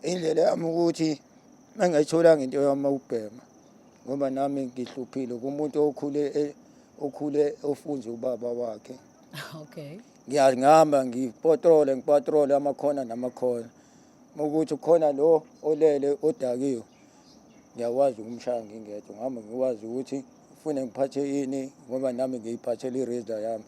indlela yami ukuthi engayitholanga into yami ukubhema ngoba nami ngihluphile kumuntu okhule e- okhule ofunze ubaba wakhe okay ngiyazi ngihamba ngipatrole ngipatrole amakhona namakhona ukuthi khona lo olele odakiwe ngiyakwazi ukumshaya ngingedwa ngihamba ngikwazi ukuthi ufune ngiphathe ini ngoba nami ngiyiphathele i-razor yami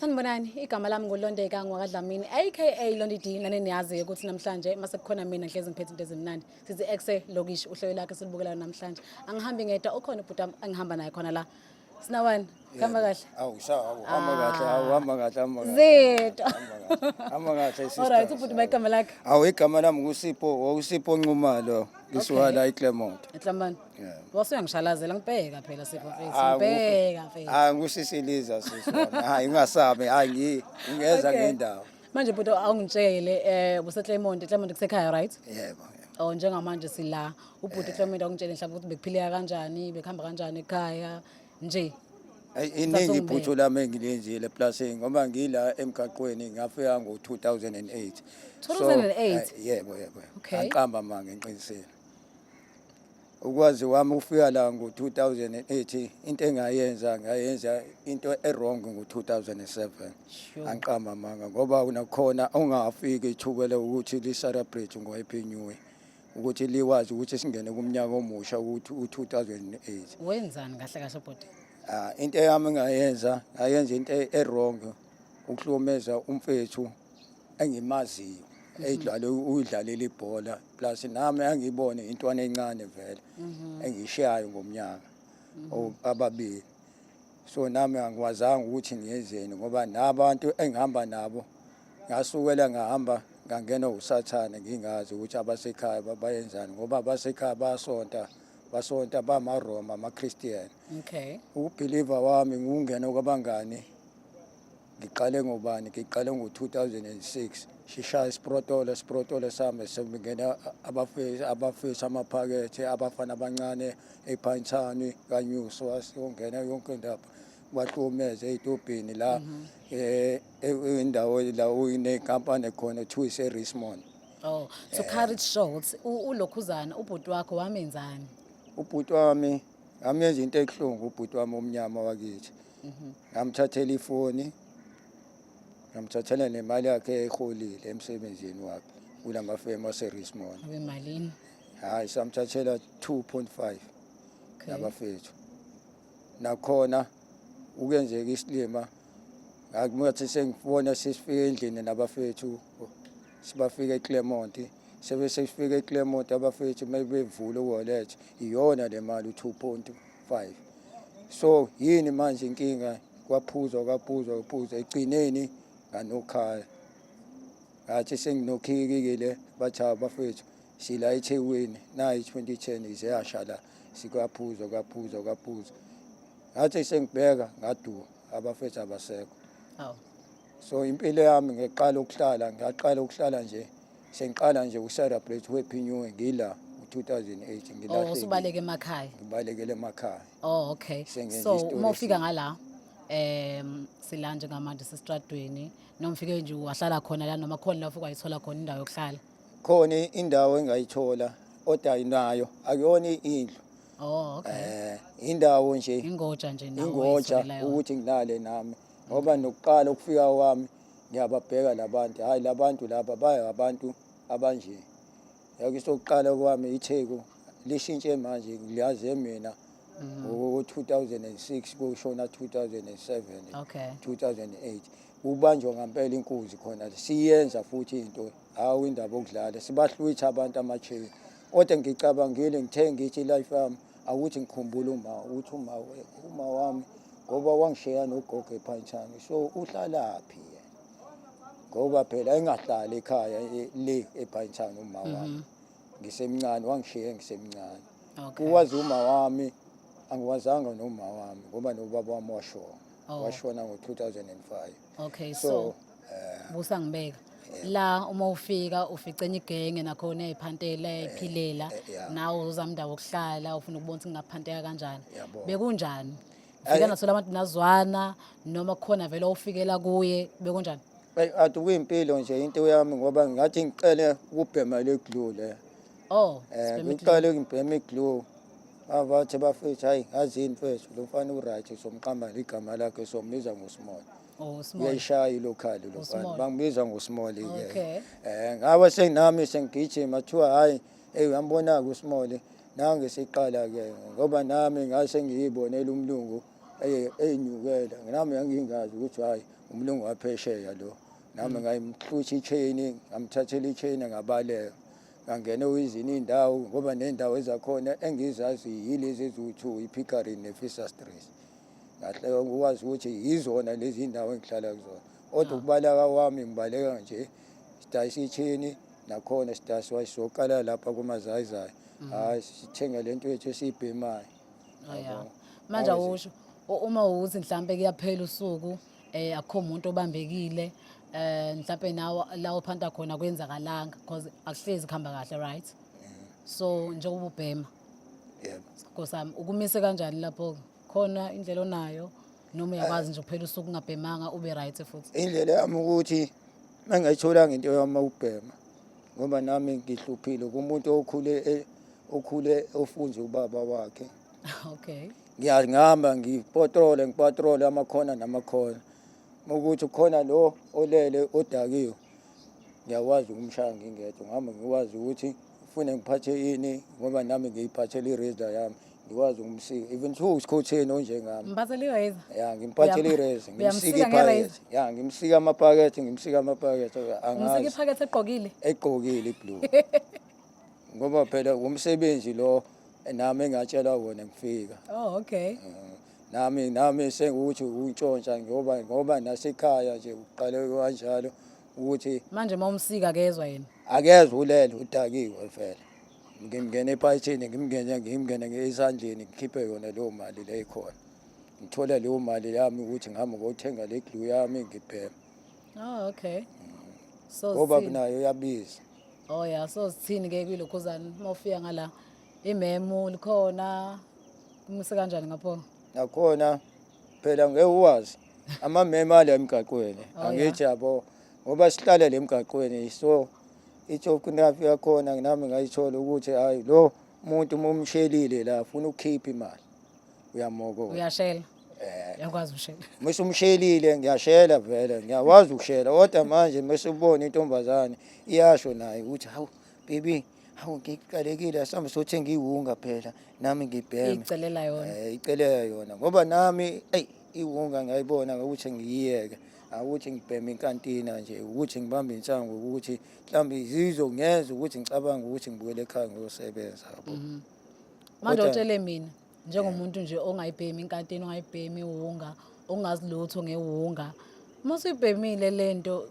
Sanibonani, igama lami nguLondeka ngwakaDlamini aka Londi D nane niyazi ukuthi namhlanje mase kukhona mina ngihlezi ngiphethe into ezimnandi. Sithi exe lokish uhlelo lakhe silibukelayo namhlanje. Angihambi ngedwa ukhona ubhuti wami engihamba naye khona la. Sinawani, khamba kahle. Awu sha, awu hamba kahle, awu hamba kahle, hamba kahle. Zethu. Hamba kahle sister. All right, ubhuti bayigama lakhe. Awu igama lami nguSipho, uSipho Nxumalo, ngisiwala iClermont. Etlambani. Wase uyangishalazela ngibheka phela sipho mfethu. Ah, Ngibheka mfethu. Hayi ngisisiliza sisi wami. Hayi ungasabi. Hayi ngi- ngingeza Okay. ngendawo. Manje bhuti awungitshele eh buse Clermont, Clermont kusekhaya right? Yebo. Oh njengamanje sila ubhuti Clermont awungitshele mhlawumbe ukuthi bekuphileka kanjani, bekuhamba kanjani ekhaya nje. Ay, Thatha iningi ungibheke. iphuthu lami engilenzile eplasini ngoba ngila emgaqweni ngafika ngo-2008 So, 2008? ay, yebo yebo Okay. angiqamba ma ngiqinisile ukwazi wami ukufika la ngo-2008 into engayenza ngayenza into erong ngo-2007 angiqamba amanga ngoba nakhona ongafiki ithubele ukuthi li-celebrate ngo-happy new year ukuthi liwazi ukuthi singene kumnyaka omusha ukuthi u-2008 wenzani kahle kahle bhuti ah into yami ngayenza ngayenza into erong ukuhlomeza umfethu engimaziyo mhm. edlale uyidlalela ibhola plus nami angiyibone intwana encane vele mhm. engishayo ngomnyaka mhm. ababili so nami angikwazanga ukuthi ngiyenzeni ngoba nabantu engihamba nabo ngasukela ngahamba ngangena usathane ngingazi ukuthi abasekhaya bayenzani ngoba abasekhaya basonta basonta bamaroma amakhristian okay ukubhiliva wami ngungena kwabangani ngiqale ngobani ngiqale ngo-2006 sishaya isiprotolo isiprotolo sami sekungena abafesi abafesi amaphakethe abafana abancane ephantshani kanyuso wasiyongena yonke indaba bahlukumeze ey'tobhini la mhm. eh, e-, indawo la inenkampani khona kuthiwa ise-rismond oh so courage shorts ulokhuzana ubhuti wakho wamenzani ubhuti wami ngamenza into ebuhlungu ubhuti wami omnyama wakithi mhm. ngamthathela ifoni ngamthathela nemali yakhe eyiholile emsebenzini wakhe kula mafemu aserismon abemalini hhayi samthathela 2.5 nabafethu nakhona ukenzeka isilima ngathi sengibona sesifike endlini nabafethu sibafike eclermont sebe sesifike eclermont abafethu uma bevula uwallet iyona le mali u-two point 5 so yini manje inkinga kwaphuzwa kwaphuzwa kwaphuzwa egcineni nganokhala ngathi senginokhikikile bathi abafethu sila ethekwini nayi 2010 izeyasha la sikwaphuzwa kwaphuzwa kwaphuzwa ngathi sengibheka ngaduka abafethu abasekho so impilo yami ngiqala ukuhlala ngaqala ukuhlala nje Sengiqala nje uku-celebrate happy new year ngila u-2008 ngilahlekile. Oh, usubaleke emakhaya. Ngibalekele emakhaya. Oh, okay. Sengenza so uma ufika ngala um sila njengamanje sesitradweni noma ufike nje wahlala khona la noma khona la ufike wayithola khona indawo yokuhlala khona indawo engayithola oda inayo akuyona indlu oh okay eh indawo nje ingoja nje nawo ingoja ukuthi nginale nami ngoba nokuqala ukufika kwami ngiyababheka labantu hayi labantu laba baye abantu abanje yake sokuqala kwami itheku lishintshe manje liyaze mina mm. ngo-2006 kushona 2007 okay. 2008 kubanjwa ngampela inkunzi khona siyenza futhi into hawu indaba okudlala sibahlwitha abantu ama-chain kodwa ngicabangile ngithe ngithi life yami akuthi ngikhumbula uma ukuthi uma uma wami ngoba wangishiya nogogo ephantshani so uhlalaphi ngoba phela engahlali ekhaya e, le ephantshani uma mhm. wami ngisemncane wangishiya ngisemncane uwazi uma wami angiwazanga noma wami ngoba nobaba wami washona oh. washona ngo-2005 okay so, so uh, busa ngibeka la uma ufika ufica enye igenge nakhona eyayiphantela iphilela eh, eh, eh, nawe uzamndawo okuhlala ufuna ukubona ukuthi ngingaphanteka kanjani bekunjani ufika nasola abantu nazwana noma khona vele ofikela kuye bekunjani athi kuyimpilo nje into yami ngoba ngathi ngiqele ukubhema le glue le oh ngiqale ukubhema iglue abathi bafethu hayi ngazi yini mfethu lo mfana uright somqamba igama lakhe sombiza ngosimona Oh, small. uyayishaya ilokhali lo mfana Usmall. bangibiza ngosimoli ke Okay. eh ngabe senginami sengigijima kuthiwa hayi hey uyambona ke usimoli nange siqala ke ngoba nami ngase ngiyibonela umlungu eye- eyinyukela nami ngangingazi ukuthi hayi umlungu waphesheya lo nami ngayimhlutsha ichain ngamthathela ichain ngabaleka Ngangene uyizini indawo ngoba nendawo ezakhona engizazi yilezi eziwu-two i-pickering ne-fisher stress ngahle ukwazi ukuthi yizona lezi ndawo engihlala kuzona kodwa ah. ukubalaka wami ngibaleka nje sidayisa ithini nakhona sidayisa wayisoqala lapha kumazayizayi mm. hhayi sithenge le nto yethu esiyibhemayo oh, manje awusho uma uthi mhlawumbe kuyaphela usuku eh akho umuntu obambekile eh mhlawumbe nawo la uphanta khona kwenzakalanga because akuhlezi kuhamba kahle right so njengoba ubhema yebo nkosami ukumise kanjani lapho khona indlela onayo noma uyakwazi nje kuphela usuku ungabhemanga ube right futhi indlela yami ukuthi mangayitholanga into yami ukubhema ngoba nami ngihluphile kumuntu okhule e- okhule ofunze ubaba wakhe okay ngiyangihamba ngipotrole ngipatrole amakhona namakhona ukuthi khona lo olele odakiwe ngiyakwazi ukumshaya ngingedwa ngihamba ngikwazi ukuthi ufune ngiphathe ini ngoba nami ngiyiphathele i-razor yami ngikwazi ukumsika even though usikhotheni onjengami ngiphathele i-razor ya ngimphathele i-razor ngimsike iphakethe ya ngimsike amapakethe ngimsike amapakethe angazi iphakethe egqokile egqokile iblue ngoba phela umsebenzi lo nami engatshelwa wona ngifika oh okay mm. nami nami sengukuthi untshontsha ngoba ngoba nasekhaya nje uqale kanjalo ukuthi manje uma umsika kezwa yena akezwa ulele udakiwe vele ngimngene ephayithini ngimngene ngimngene ngesandleni ngikhiphe yona leyo mali le ikhona ngithola leyo mali yami ukuthi ngihamba ngothenga le glue yami ngibhema oh okay mm. so ngoba kunayo yabiza Oh ya so sithini ke kwilokhuzana uma ufika ngala imemu likhona kumuse kanjani ngapho? Nakhona phela ngeke uwazi amamema ala emgaqweni Oh, angithi yabo ngoba sihlala le mgaqweni so ithokunafi yakhona nami ngayithola ukuthi hayi lo muntu mumshelile la funa ukukhipha imali uyamoka uyashela eh. yakwazi ukushela mase umshelile ngiyashela vele ngiyakwazi ukushela kodwa manje mase ubona intombazane iyasho naye ukuthi hawu baby hawu ngiqalekile asambe sothenga iwunga phela nami ngibheme icelela yona eh icelela yona ngoba nami ey iwunga ngiyayibona ukuthi ngiyiyeke awuthi ngibheme inkantina nje ukuthi ngibambe insangu ukuthi mhlawumbe izizwe ngenza ukuthi ngicabanga ukuthi ngibuyele ekhaya ngiyosebenza yabo mhm. manje Kodwa- utshele mina njengomuntu nje ongayibhemi inkantini ongayibhemi iwunga ongazi lutho ngewunga uma usuyibhemile le nto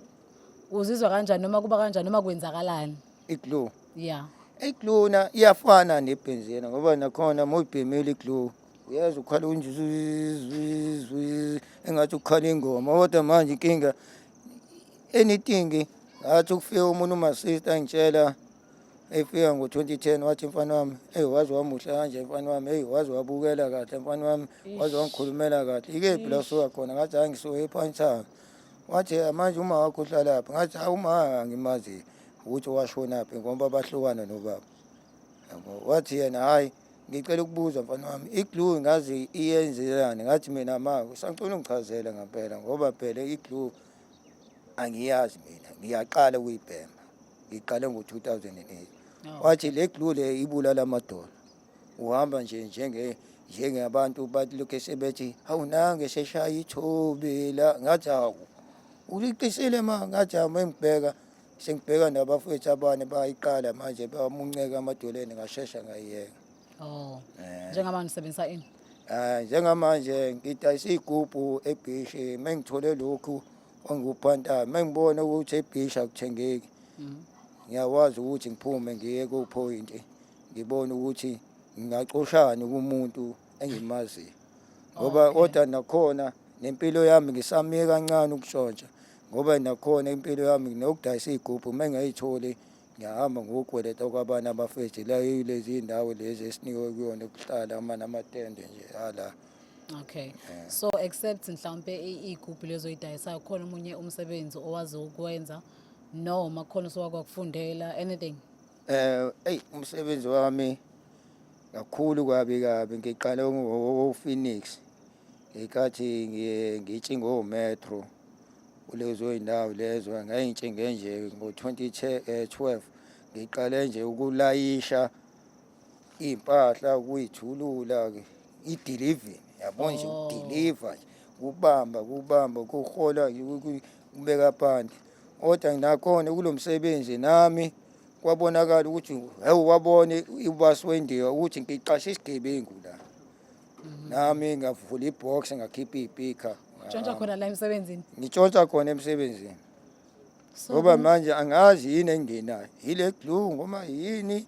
uzizwa kanjani noma kuba kanjani noma kwenzakalani iglue ya iglue na iyafana nebhenzina ngoba nakhona uma uyibhemile iglue uyeza ukhala unjuzuzuzuz engathi ukhala ingoma kodwa manje inkinga anything ngathi ukufika umuntu umasista angitshela efika ngo-2010 wathi mfana wami eyi waze wamuhle kanje mfana wami eyi waze wabukela kahle mfana wami waze wangikhulumela kahle ikephi la usuka khona ngathi hayi ngisuke ephanthanga wathi manje uma wakho uhlalaphi ngathi hayi uma angimazi ukuthi washonaphi ngoba bahlukana nobaba wathi yena hhayi ngicela ukubuza mfana wami iglu ngazi iyenzelani ngathi mina ma usacela ungichazele ngampela ngoba phela iglu angiyazi mina ngiyaqala ukuyibhema ngiqale ngo-2008 wathi le glue le ibulala amadolo uhamba nje njenge njengabantu balokhu sebethi hawu nange seshaya ithobi la ngathi hawu uliqisile ma ngathi hawu mengibheka sengibheka nabafowethu abane bayiqala manje bamunceka amadoleni ngashesha ngayiyeka Oh. Eh. Njengamanje usebenzisa ini? Eh njengamanje ngidayisa igubhu ebhishi mengithole lokhu ongikuphantayo mengibone ukuthi ebhishi akuthengeki. Mhm. Ngiyakwazi ukuthi ngiphume ngiye ku point ngibone ukuthi ngingacoshani kumuntu engimaziyo. Ngoba Okay. kodwa nakhona nempilo yami ngisamiye kancane ukushontsha ngoba nakhona impilo yami nokudayisa igubhu mengayitholi ngiyahamba ngokukweleta kwabanye abafethu la yilezi ndawo lezi esinikwe kuyona ukuhlala ama namatende nje ala Okay. Yeah. So except mhlawumbe igroup lezoyidayisa khona umunye umsebenzi owazi ukwenza noma khona sowakwakufundela anything? Eh, hey umsebenzi wami kakhulu kwabi kabi ngiqale ngo-Phoenix ngenkathi ngitshingo metro kulezo zindawo lezo ngayintshe ngenje ngo-2012 ngiqale nje ukulayisha iy'mpahla ukuyithulula-ke i-delivery yabo nje oh. ukudiliva nje kubamba kubamba kuhola kubeka phansi kodwa nginakhona kulo msebenzi nami kwabonakala ukuthi hewu wabone ubasi wendiya ukuthi ngiqashe isigebengu la nami ngavula ibox ngakhipha iy'pikha Tshontsha khona la emsebenzini. ngitshontsha khona emsebenzini So, ngoba manje angazi yini engenayo yile glue ngoma yini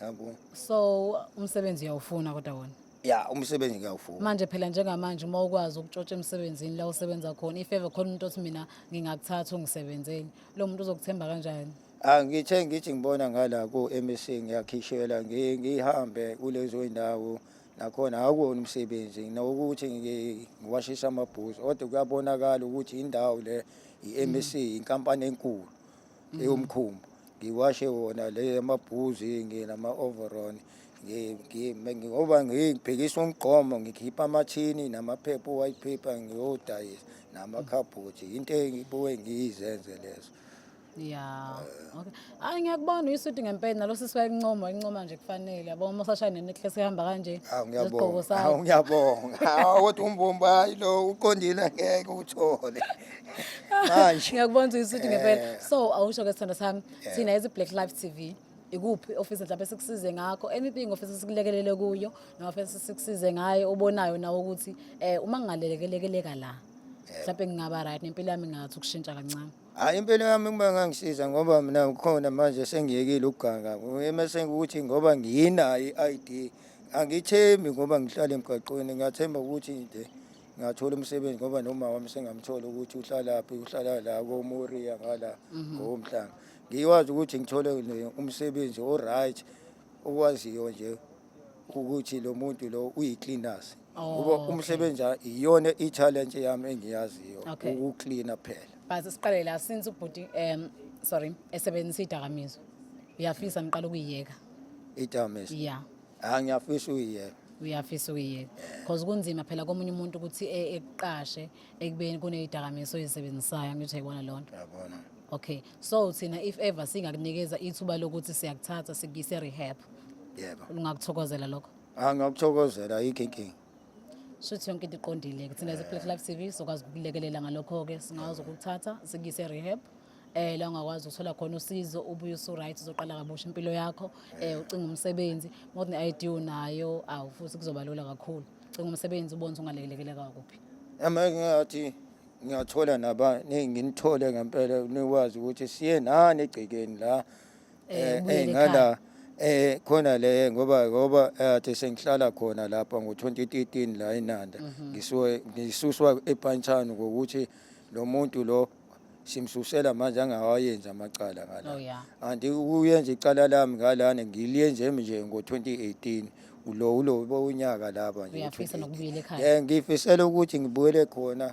yabo so umsebenzi uyawufuna kodwa wona. ya umsebenzi ngiyawufuna Manje phela njengamanje uma ukwazi ukutshotsha emsebenzini la usebenza khona if ever khona umuntu othi mina ngingakuthatha ungisebenzele. Lo muntu uzokuthemba kanjani? angithe ah, ngithi ngibona ngala ku-mec ngiyakhishela ngihambe kulezo indawo nakhona akuwona umsebenzi nokuthi ngiwashisa amabhuzu kodwa kuyabonakala ukuthi indawo le i-mec mm. inkampani enkulu mm. eyomkhumbu ngiwashe wona le amabhuzi nginama-overon ngoba ngibhekisa umgqomo ngikhipha amathini namaphepha o-white paper ngiyodayisa namakhabhothi into engibuke ngiyizenze lezo ya okay hayi ngiyakubona uyisuthi ngempela nalo sisi wayencoma incoma nje kufanele yabo uma usashaya nenecklace ehamba kanje Hawu nesigqoko ngiyabonga. sakho. Hawu ngiyabonga. Hawu kodwa umbumba hayi lo uqondile angeke uthole. Manje ngiyakubona ukuthi uyisuthi ngempela so awusho ke sithando sami thina as black life tv ikuphi ofisi mhlawumbe sikusize ngakho anything ofisi sikulekelele kuyo noma ofisi sikusize ngayo obonayo nawe ukuthi um uma ngingalelekeleka la mhlawumbe ngingaba right nempilo yami ingathi ukushintsha kancane Hayi impilo yami uma ngangisiza ngoba mina ukhona manje sengiyekile ukuganga. Emesenge ukuthi ngoba ngiyinayo i-ID angithembi ngoba ngihlala emgaqweni ngiyathemba ukuthi nje ngathola umsebenzi ngoba noma wami sengamthola ukuthi uhlalaphi uhlala la koMoria ngala mhm. ngomhlanga ngiwazi ukuthi ngithole umsebenzi o-right okwaziyo nje ukuthi lo muntu lo uyi-cleaners Oh, kuba okay. umsebenzi a- iyona i-challenge yami engiyaziyo Okay. ukuklina kuphela Base siqale la since ubhuti um sorry esebenzisa idakamizwa. Uyafisa ngiqala ukuyiyeka. idamis Yeah. hayi ngiyafisa uyiyena Uyafisa ukuyiyeka. Cause kunzima phela komunye umuntu ukuthi e- ekuqashe ekubeni kuneyidakamizwa oyisebenzisayo ngithi ayibona lonto. yabona Okay. so thina if ever singakunikeza ithuba lokuthi siyakuthatha sikuyise rehab yebo ungakuthokozela lokho angakuthokozela yikho inkinga shuthi yonke into iqondile ke thina ze-plate life tv sokwazi ukulekelela ngalokho-ke singakwazi ukukuthatha sikuyise rehab eh la ungakwazi uthola khona usizo ubuye usu-right uzoqala kabusha impilo yakho eh ucinga umsebenzi more than i-id unayo awu futhi kuzoba lula kakhulu cinga umsebenzi ubone ukuthi ungalekeleleka kuphi Ama ngathi ngiyathola naba nginithole ngempela nikwazi ukuthi siye nani egcekeni la eh, eh, eh ngala eh khona le ngoba ngoba athe sengihlala khona lapha ngo2013 la eNanda mhm. ngisuke ngisuswa ePantshana ngokuthi lo muntu lo simsusela manje angawayenza amacala ngala oh, anti uyenza icala lami ngalana ngiliyenze nje ngo2018 ulo ulo bowunyaka lapha nje uyafisa nokubuyela ekhaya eh ngifisela ukuthi ngibuyele khona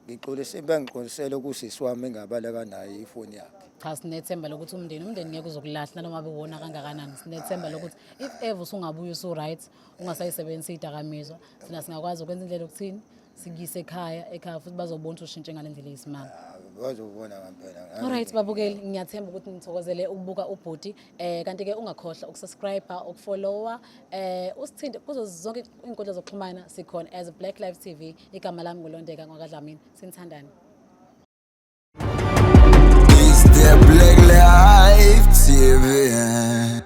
ngixolise bengiqolisele kusisi wami engabaleka naye ifoni yakhe cha sinethemba lokuthi umndeni umndeni ngeke uzokulahla noma bewona kangakanani sinethemba lokuthi if ever usungabuya usu right ungasayisebenzisa idakamizwa sina singakwazi ukwenza indlela okuthini sikuyise ekhaya ekhaya futhi bazobona ukuthi ushintshe ngale ndlela eyisimanga ah, bazobona ngampela alright babukeli ngiyathemba ukuthi nithokozele ukubuka ubhuti eh kanti ke ungakhohlwa ukusubscribe ukufollowa eh usithinte kuzo zonke inkundla zokuxhumana sikhona as Black Life TV igama lami ngolondeka ngokadlamini sinithandani Is there black life TV?